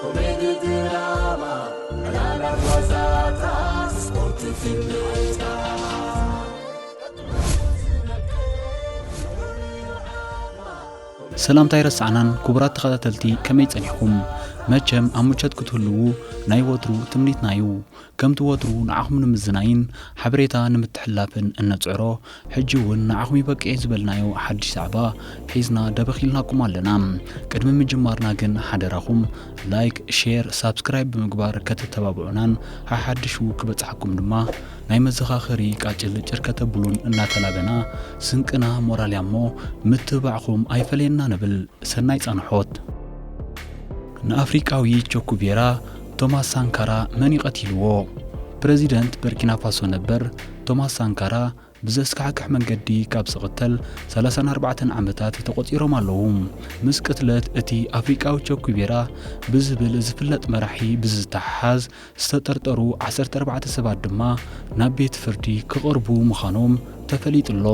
ኮሜዲ ድራማ ዕላላት ዋዛታት ስፖርትን ፊልምታት ሰላምታ ኣይረሳዕናን ክቡራት ተኸታተልቲ ከመይ ጸኒሕኩም መቸም ኣብ ምቾት ክትህልዉ ናይ ወትሩ ትምኒትና እዩ ከምቲ ወትሩ ንዓኹም ንምዝናይን ሓበሬታ ንምትሕልላፍን እንጽዕሮ፣ ሕጂ እውን ንዓኹም ይበቅ'የ ዝበልናዮ ሓድሽ ዛዕባ ሒዝና ደበኽ ኢልናኩም ኣለና። ቅድሚ ምጅማርና ግን ሓደራኹም ላይክ፣ ሼር፣ ሳብስክራይብ ብምግባር ከተተባብዑናን ሓሓድሹ ክበጽሓኩም ድማ ናይ መዘኻኸሪ ቃጭል ጭር ከተብሉን እናተላበና ስንቅና ሞራል እያ እሞ ምትብባዕኹም ኣይፈለየና ንብል። ሰናይ ጻንሖት! ንኣፍሪቃዊ ቸኩቬራ ቶማስ ሳንካራ መን እዩ ቀቲልዎ? ፕረዚደንት በርኪናፋሶ ነበር ቶማስ ሳንካራ ብዘስካሕክሕ መንገዲ ካብ ዝቕተል ሰላሳን ኣርባዕተን ዓመታት ተቖጺሮም ኣለዉ። ምስ ቅትለት እቲ ኣፍሪቃዊ ቸኩቤራ ብዝብል ዝፍለጥ መራሒ ብዝተሓሓዝ ዝተጠርጠሩ ዓሰርተ ኣርባዕተ ሰባት ድማ ናብ ቤት ፍርዲ ክቐርቡ ምዃኖም ተፈሊጡ'ሎ።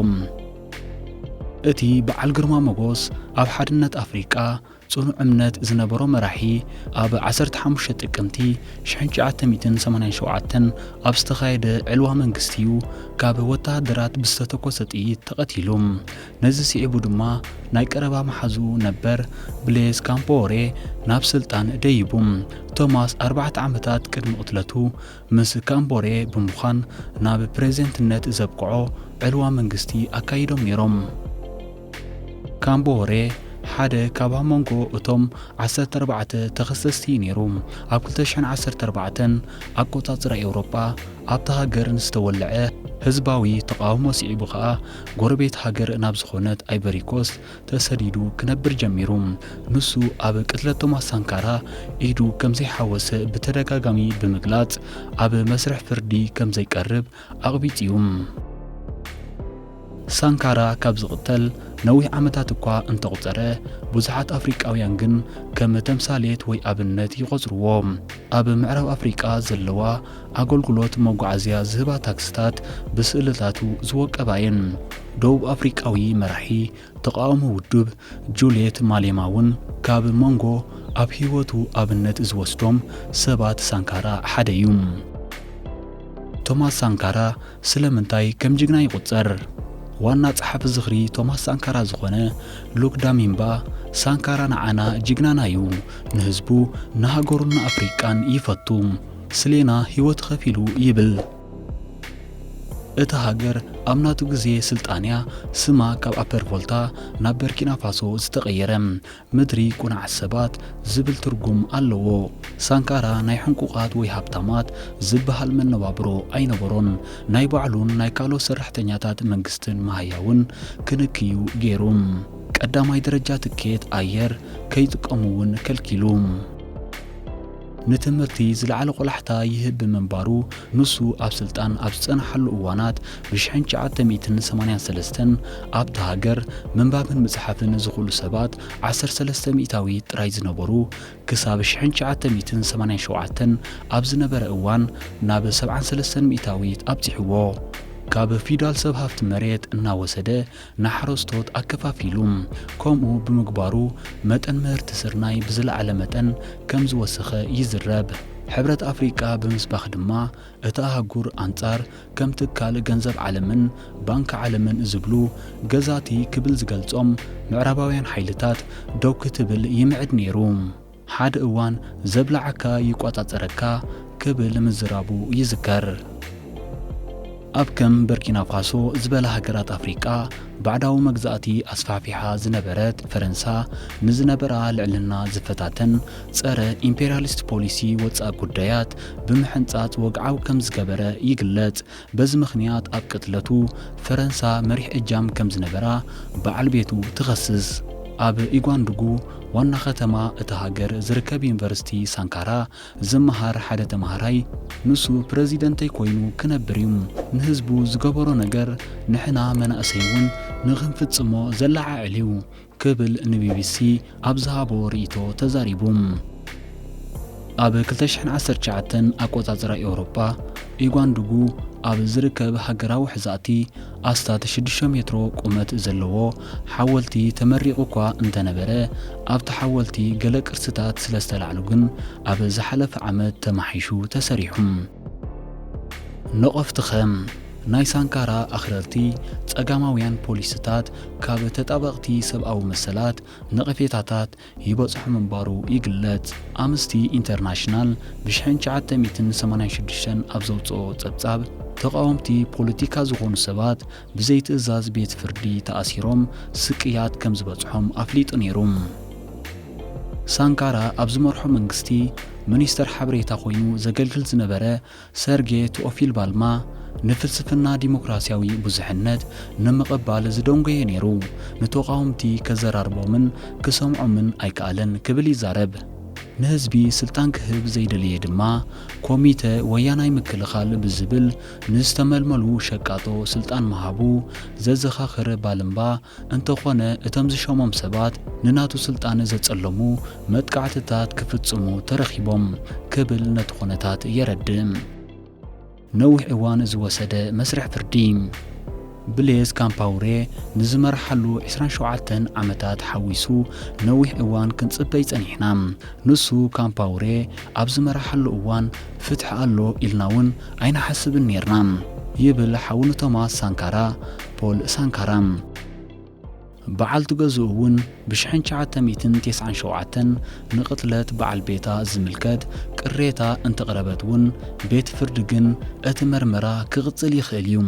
እቲ በዓል ግርማ ሞጎስ ኣብ ሓድነት ኣፍሪቃ ጽኑዕ እምነት ዝነበሮ መራሒ ኣብ ዓሰርተ ሓሙሽተ ጥቅምቲ ሽሕን ትሽዓተ ሚእትን ሰማንያን ሸውዓተን ኣብ ዝተኻየደ ዕልዋ መንግስቲ እዩ ካብ ወተሃደራት ብዝተተኮሰ ጥይት ተቐቲሉ። ነዚ ስዒቡ ድማ ናይ ቀረባ መሓዝኡ ነበር ብሌዝ ካምፓወሬ ናብ ስልጣን ደይቡ። ቶማስ ኣርባዕተ ዓመታት ቅድሚ ቅትለቱ ምስ ካምቦሬ ብምዃን ናብ ፕሬዚደንትነት ዘብቅዖ ዕልዋ መንግስቲ ኣካይዶም ነይሮም። ካምቦሬ ሓደ ካብ ኣብ መንጎ እቶም ዓሰርተ ኣርባዕተ ተኸሰስቲ እዩ ነይሩ። ኣብ ክልተ ሽሕን ዓሰርተ ኣርባዕተን ኣቆፃፅራ ኤውሮጳ ኣብታ ሃገር ንዝተወለዐ ህዝባዊ ተቓውሞ ስዒቡ ከኣ ጎረቤት ሃገር ናብ ዝኾነት ኣይቨሪኮስት ተሰዲዱ ክነብር ጀሚሩ። ንሱ ኣብ ቅትለት ቶማስ ሳንካራ ኢዱ ከምዘይሓወሰ ብተደጋጋሚ ብምግላጽ ኣብ መስርሕ ፍርዲ ከምዘይቀርብ ኣቕቢጽ'ዩ። ሳንካራ ካብ ዝቕተል ነዊሕ ዓመታት እኳ እንተቑጸረ፣ ብዙሓት ኣፍሪቃውያን ግን ከም ተምሳሌት ወይ ኣብነት ይቖጽርዎ። ኣብ ምዕራብ ኣፍሪቃ ዘለዋ ኣገልግሎት መጓዓዝያ ዝህባ ታክስታት ብስእልታቱ ዝወቀባ እየን። ደቡብ ኣፍሪቃዊ መራሒ ተቓውሞ ውዱብ ጁልየት ማሌማ እውን ካብ መንጎ ኣብ ህይወቱ ኣብነት ዝወስዶም ሰባት ሳንካራ ሓደ እዩ። ቶማስ ሳንካራ ስለምንታይ ከም ጅግና ይቑጸር? ዋና ጸሓፊ ዝኽሪ ቶማስ ሳንካራ ዝኾነ ሉክ ዳሚምባ፣ ሳንካራ ንዓና ጅግናና እዩ፣ ንህዝቡ፣ ንሃገሩን ንኣፍሪቃን ይፈቱ። ስሌና ሂወቱ ከፊሉ ይብል። እታ ሃገር ኣብ ናቱ ግዜ ስልጣን'ያ ስማ ካብ ኣፐር ቮልታ ናብ በርኪናፋሶ ዝተቐየረ። ምድሪ ቁናዕ ሰባት ዝብል ትርጉም ኣለዎ። ሳንካራ ናይ ሕንቁቓት ወይ ሃብታማት ዝበሃል መነባብሮ ኣይነበሮን። ናይ ባዕሉን ናይ ካልኦት ሰራሕተኛታት መንግስትን መሃያውን ክንክ'ዩ ገይሩ። ቀዳማይ ደረጃ ትኬት ኣየር ከይጥቀሙ'ውን ከልኪሉ። ንትምህርቲ ዝለዓለ ቆላሕታ ይህብ ብምንባሩ ንሱ ኣብ ስልጣን ኣብ ዝጸንሓሉ እዋናት ብሽሕን ትሽዓተ ሚእትን ሰማንያን ሰለስተን ኣብታ ሃገር ምንባብን ምጽሓፍን ዝኽእሉ ሰባት ዓሰርተ ሰለስተ ሚእታዊት ጥራይ ዝነበሩ ክሳብ ሽሕን ትሽዓተ ሚእትን ሰማንያን ሸውዓተን ኣብ ዝነበረ እዋን ናብ ሰብዓን ሰለስተን ሚእታዊት ኣብጺሕዎ። ካብ ፊውዳል ሰብ ሃፍቲ መሬት እናወሰደ ንሓረስቶት ኣከፋፊሉ። ከምኡ ብምግባሩ መጠን ምህርቲ ስርናይ ብዝለዓለ መጠን ከም ዝወሰኸ ይዝረብ። ሕብረት ኣፍሪቃ ብምስባኽ ድማ እታ ኣህጉር ኣንጻር ከም ትካል ገንዘብ ዓለምን ባንኪ ዓለምን ዝብሉ ገዛቲ ክብል ዝገልጾም ምዕራባውያን ሓይልታት ደው ክትብል ይምዕድ ነይሩ። ሓደ እዋን ዘብላዓካ ይቆጻጸረካ ክብል ምዝራቡ ይዝከር። ኣብ ከም በርኪናፋሶ ዝበላ ሃገራት ኣፍሪቃ ባዕዳዊ መግዛእቲ ኣስፋሕፊሓ ዝነበረት ፈረንሳ ንዝነበራ ልዕልና ዝፈታተን ጸረ ኢምፔርያሊስት ፖሊሲ ወጻኢ ጉዳያት ብምሕንጻጽ ወግዓዊ ከም ዝገበረ ይግለጽ። በዚ ምኽንያት ኣብ ቅትለቱ ፈረንሳ መሪሕ እጃም ከም ዝነበራ በዓል ቤቱ ትኸስስ። ኣብ ኢጓንዱጉ ዋና ከተማ እታ ሃገር ዝርከብ ዩኒቨርሲቲ ሳንካራ ዝመሃር ሓደ ተማሃራይ፣ ንሱ ፕረዚደንተይ ኮይኑ ክነብር እዩ፣ ንህዝቡ ዝገበሮ ነገር ንሕና መናእሰይ እውን ንኽንፍጽሞ ዘለዓዕል እዩ፣ ክብል ንቢቢሲ ኣብ ዝሃቦ ርእይቶ ተዛሪቡ። ኣብ ክልተ ሽሕን ዓሰርተ ትሽዓተን ኣቆጻጽራ ኤውሮጳ፣ ኢጓንድጉ ኣብ ዝርከብ ሃገራዊ ሕዛእቲ ኣስታት ሽዱሽተ ሜትሮ ቁመት ዘለዎ ሓወልቲ ተመሪቑ'ኳ እንተነበረ፣ ኣብቲ ሓወልቲ ገለ ቅርስታት ስለዝተላዕሉ ግን ኣብ ዝሓለፈ ዓመት ተማሕይሹ ተሰሪሑ። ነቐፍትኸም ናይ ሳንካራ ኣኽረርቲ ጸጋማውያን ፖሊሲታት ካብ ተጣበቕቲ ሰብኣዊ መሰላት ነቐፌታታት ይበጽሑ ምንባሩ ይግለጽ። ኣምስቲ ኢንተርናሽናል ብሽሕን ትሽዓተ ሚእትን ሰማንያን ሽዱሽተን ኣብ ዘውጽኦ ጸብጻብ፣ ተቓወምቲ ፖለቲካ ዝኾኑ ሰባት ብዘይትእዛዝ ቤት ፍርዲ ተኣሲሮም ስቅያት ከም ዝበጽሖም ኣፍሊጡ ነይሩ። ሳንካራ ኣብ ዝመርሖ መንግስቲ ሚኒስተር ሓበሬታ ኮይኑ ዘገልግል ዝነበረ ሰርጌ ቱኦፊልባልማ ንፍልስፍና ዲሞክራስያዊ ብዙሕነት ንምቕባል ዝደንጎየ ነይሩ፣ ንተቓወምቲ ከዘራርቦምን ክሰምዖምን ኣይከኣለን ክብል ይዛረብ። ንህዝቢ ስልጣን ክህብ ዘይደለየ ድማ ኮሚተ ወያናይ ምክልኻል ብዝብል ንዝተመልመሉ ሸቃጦ ስልጣን ምሃቡ ዘዘኻኽር ባልምባ፣ እንተኾነ እቶም ዝሸሞም ሰባት ንናቱ ስልጣን ዘጸለሙ መጥቃዕትታት ክፍጽሙ ተረኺቦም ክብል ነቲ ኩነታት የረድእ። ነዊሕ እዋን ዝወሰደ መስርሕ ፍርዲ። ብሌዝ ካምፓውሬ ንዝመርሓሉ ዕስራን ሸውዓተን ዓመታት ሓዊሱ ነዊሕ እዋን ክንጽበይ ጸኒሕና። ንሱ፣ ካምፓውሬ፣ ኣብ ዝመርሓሉ እዋን ፍትሒ ኣሎ ኢልና'ውን ኣይንሓስብን ኔርና ይብል ሓው ንቶማስ ሳንካራ፣ ፖል ሳንካራ። በዓልቲ ገዝኡ እውን ብሽሕን ትሽዓተ ሚእትን ቴስዓን ሸውዓተን ንቕትለት በዓል ቤታ ዝምልከት ቅሬታ እንተቕረበት እውን ቤት ፍርዲ ግን እቲ መርመራ ክቕፅል ይኽእል እዩ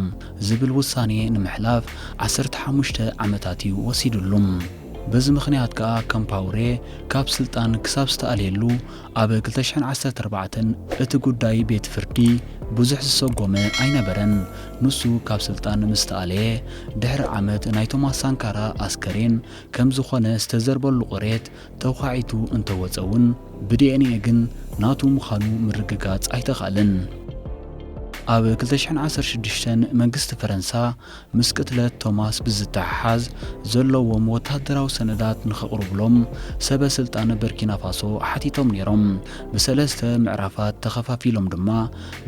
ዝብል ውሳኔ ንምሕላፍ ዓሰርተ ሓሙሽተ ዓመታት እዩ ወሲድሉ። በዚ ምኽንያት ከዓ ካምፓውሬ ካብ ስልጣን ክሳብ ዝተኣልየሉ ኣብ ክልተ ሽሕን ዓሰርተ ኣርባዕተን እቲ ጉዳይ ቤት ፍርዲ ብዙሕ ዝሰጎመ ኣይነበረን። ንሱ ካብ ስልጣን ምስ ተኣለየ ድሕሪ ዓመት ናይ ቶማስ ሳንካራ ኣስከሬን ከም ዝኾነ ዝተዘርበሉ ቁሬት ተዃዒቱ እንተወጸ እውን ብዲኤንኤ ግን ናቱ ምዃኑ ምርግጋጽ ኣይተኻእለን። ኣብ ክልተ ሽሕን ዓሰርተ ሽዱሽተን መንግስቲ ፈረንሳ ምስ ቅትለት ቶማስ ብዝተሓሓዝ ዘለዎም ወተሃደራዊ ሰነዳት ንኸቕርቡሎም ሰበ ስልጣን በርኪናፋሶ ሓቲቶም ነይሮም። ብሰለስተ ምዕራፋት ተኸፋፊሎም ድማ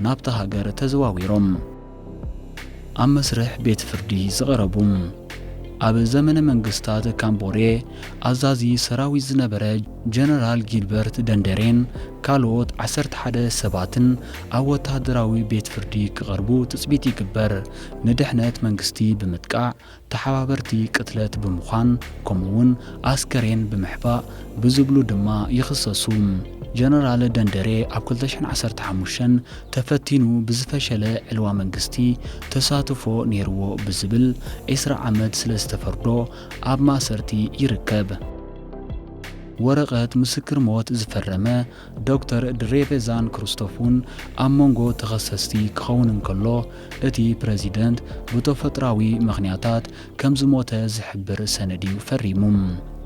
ናብታ ሃገር ተዘዋዊሮም። ኣብ መስርሕ ቤት ፍርዲ ዝቐረቡ። ኣብ ዘመነ መንግስታት ካምቦሬ ኣዛዚ ሰራዊት ዝነበረ ጀነራል ጊልበርት ደንደሬን ካልኦት ዓሰርተ ሓደ ሰባትን ኣብ ወተሃደራዊ ቤት ፍርዲ ክቐርቡ ትጽቢት ይግበር። ንድሕነት መንግስቲ ብምጥቃዕ ተሓባበርቲ ቅትለት ብምዃን ከምኡ'ውን ኣስከሬን ብምሕባእ ብዝብሉ ድማ ይኽሰሱ። ጀነራል ደንደሬ ኣብ ክልተ ሽሕን ዓሰርተ ሓሙሽተን ተፈቲኑ ብዝፈሸለ ዕልዋ መንግስቲ ተሳትፎ ነይርዎ ብዝብል ዕስራ ዓመት ስለዝተፈርዶ ኣብ ማእሰርቲ ይርከብ። ወረቐት ምስክር ሞት ዝፈረመ ዶክተር ድሬቨዛን ክርስቶፍን ኣብ መንጎ ተኸሰስቲ ክኸውን እንከሎ፣ እቲ ፕረዚደንት ብተፈጥሮኣዊ ምኽንያታት ከም ዝሞተ ዝሕብር ሰነድ'ዩ ፈሪሙ።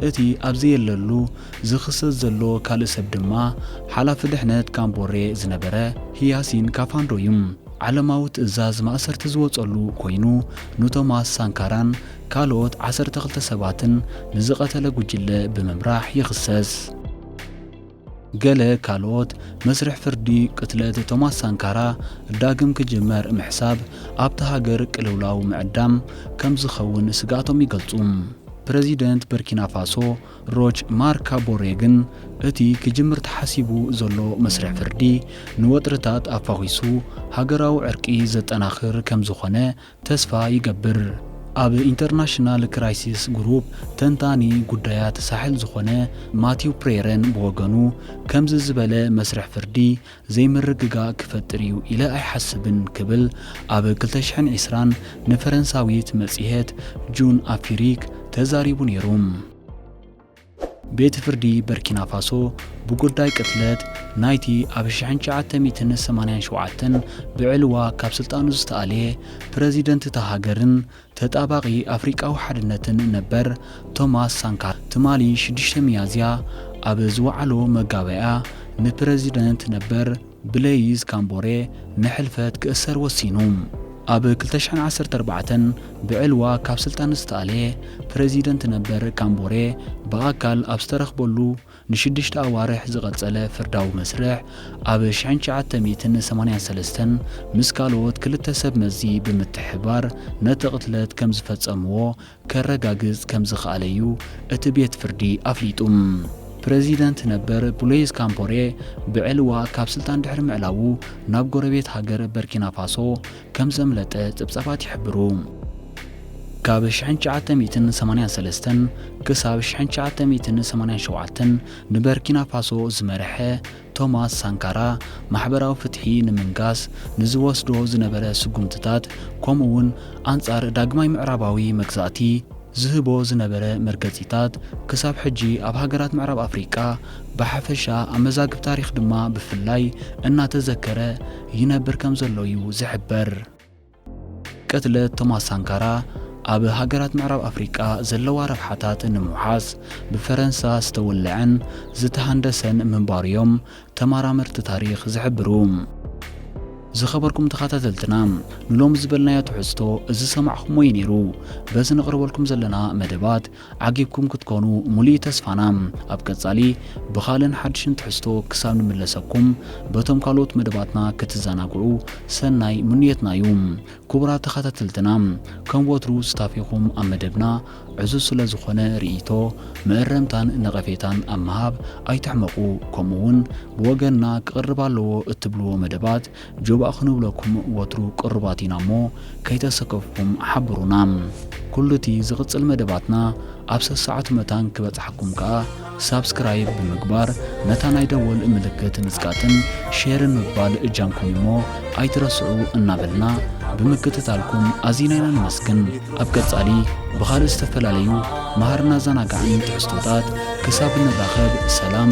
እቲ ኣብ ዘየለሉ ዝኽሰስ ዘሎ ካልእ ሰብ ድማ ሓላፊ ድሕነት ካምቦሬ ዝነበረ ህያሲን ካፋንዶ'ዩ። ዓለማዊ ትእዛዝ ማእሰርቲ ዝወጸሉ ኮይኑ፣ ንቶማስ ሳንካራን ካልኦት ዓሰርተ ክልተ ሰባትን ንዝቐተለ ጉጅለ ብምምራሕ ይኽሰስ። ገለ ካልኦት፣ መስርሕ ፍርዲ ቅትለት ቶማስ ሳንካራ ዳግም ክጅመር ምሕሳብ ኣብታ ሃገር ቅልውላው ምዕዳም ከም ዝኸውን ስግኣቶም ይገልጹ። ፕረዚደንት በርኪናፋሶ ሮች ማርክ ካቦሬ ግን እቲ ክጅምር ተሓሲቡ ዘሎ መስርሕ ፍርዲ ንወጥርታት ኣፋዂሱ ሃገራዊ ዕርቂ ዘጠናኽር ከም ዝኾነ ተስፋ ይገብር ኣብ ኢንተርናሽናል ክራይሲስ ግሩፕ ተንታኒ ጉዳያት ሳሕል ዝኾነ ማቲው ፕሬረን ብወገኑ ከምዚ ዝበለ መስርሕ ፍርዲ ዘይምርግጋእ ክፈጥር እዩ ኢለ ኣይሓስብን ክብል ኣብ ክልተ ሽሕን ዕስራን ንፈረንሳዊት መጽሔት ጁን ኣፊሪክ ተዛሪቡ ነይሩ። ቤት ፍርዲ በርኪናፋሶ ብጉዳይ ቅትለት ናይቲ ኣብ ሽሕን ትሽዓተ ሚእትን ሰማንያን ሸውዓተን ብዕልዋ ካብ ስልጣኑ ዝተኣልየ ፕረዚደንት እታ ሃገርን ተጣባቒ ኣፍሪቃዊ ሓድነትን ነበር ቶማስ ሳንካራ ትማሊ ሽዱሽተ ሚያዝያ ኣብ ዝወዓሎ መጋባእያ ንፕረዚደንት ነበር ብለይዝ ካምቦሬ ንሕልፈት ክእሰር ወሲኑ። ኣብ ክልተ ሽሕን ዓሰርተ ኣርባዕተን ብዕልዋ ካብ ስልጣን ዝተኣልየ ፕረዚደንት ነበር ካምቦሬ ብኣካል ኣብ ዝተረኽበሉ ንሽዱሽተ ኣዋርሕ ዝቐጸለ ፍርዳዊ መስርሕ ኣብ ሽሕን ትሽዓተ ሚእትን ሰማንያን ሰለስተን ምስ ካልኦት ክልተ ሰብ መዚ ብምትሕብባር ነቲ ቅትለት ከምዝፈጸምዎ ከረጋግጽ ከምዝኸኣለ'ዩ እቲ ቤት ፍርዲ ኣፍሊጡ። ፕረዚደንት ነበር ብሎይዝ ካምፖሬ ብዕልዋ ካብ ስልጣን ድሕሪ ምዕላዉ ናብ ጎረቤት ሃገር በርኪናፋሶ ከምዘምለጠ ጸብጻባት ይሕብሩ። ካብ ሽሕን ትሽዓተ ሚእትን ሰማንያን ሰለስተን ክሳብ ሽሕን ትሽዓተ ሚእትን ሰማንያን ሸውዓተን ንበርኪናፋሶ ዝመርሐ ቶማስ ሳንካራ ማሕበራዊ ፍትሒ ንምንጋስ ንዝወስዶ ዝነበረ ስጉምትታት ከምኡ'ውን ኣንጻር ዳግማይ ምዕራባዊ መግዛእቲ ዝህቦ ዝነበረ መርገጺታት ክሳብ ሕጂ ኣብ ሃገራት ምዕራብ ኣፍሪቃ ብሓፈሻ ኣብ መዛግብ ታሪኽ ድማ ብፍላይ እናተዘከረ ይነብር ከምዘሎ'ዩ ዝሕበር። ቅትለት ቶማስ ሳንካራ ኣብ ሃገራት ምዕራብ ኣፍሪቃ ዘለዋ ረብሓታት ንምውሓስ ብፈረንሳ ዝተወለዐን ዝተሃንደሰን ምንባሩ'ዮም ተማራመርቲ ታሪኽ ዝሕብሩ። ዝኸበርኩም ተኻታተልትና ንሎሚ ዝበልናዮ ትሕዝቶ ዝሰማዕኹምዎ'ዩ ነይሩ። በዚ ነቕርበልኩም ዘለና መደባት ዓጊብኩም ክትኮኑ ሙሉኢ ተስፋና። ኣብ ቀጻሊ ብኻልእን ሓድሽን ትሕዝቶ ክሳብ ንምለሰኩም በቶም ካልኦት መደባትና ክትዘናግዑ ሰናይ ምኑየትና እዩ። ኩቡራት ተኻታተልትና ከም ወትሩ ስታፌኹም ኣብ መደብና ዕዙዝ ስለ ዝኾነ ሪኢቶ፣ መእረምታን ነቐፌታን ኣብ ምሃብ ኣይትሕመቑ ከምኡ ውን ብወገንና ክቕርብ ኣለዎ እትብልዎ መደባት ጆባእ ክንብለኩም ወትሩ ቅሩባት ኢና እሞ ከይተሰከፍኩም ሓብሩና። ኩሉ እቲ ዝቕጽል መደባትና ኣብ ሰሰዓቱ መታን ክበጽሓኩም ከኣ ሳብስክራይብ ብምግባር ነታ ናይ ደወል ምልክት ምጽቃጥን ሼርን ምባል እጃምኩም እዩሞ ኣይትረስዑ እናበልና ብምክትታልኩም ኣዚና ኢና ነመስግን። ኣብ ቀጻሊ ብኻልእ ዝተፈላለዩ መሃርን ኣዘናጋዕን ትሕዝቶታት ክሳብ እንራኸብ ሰላም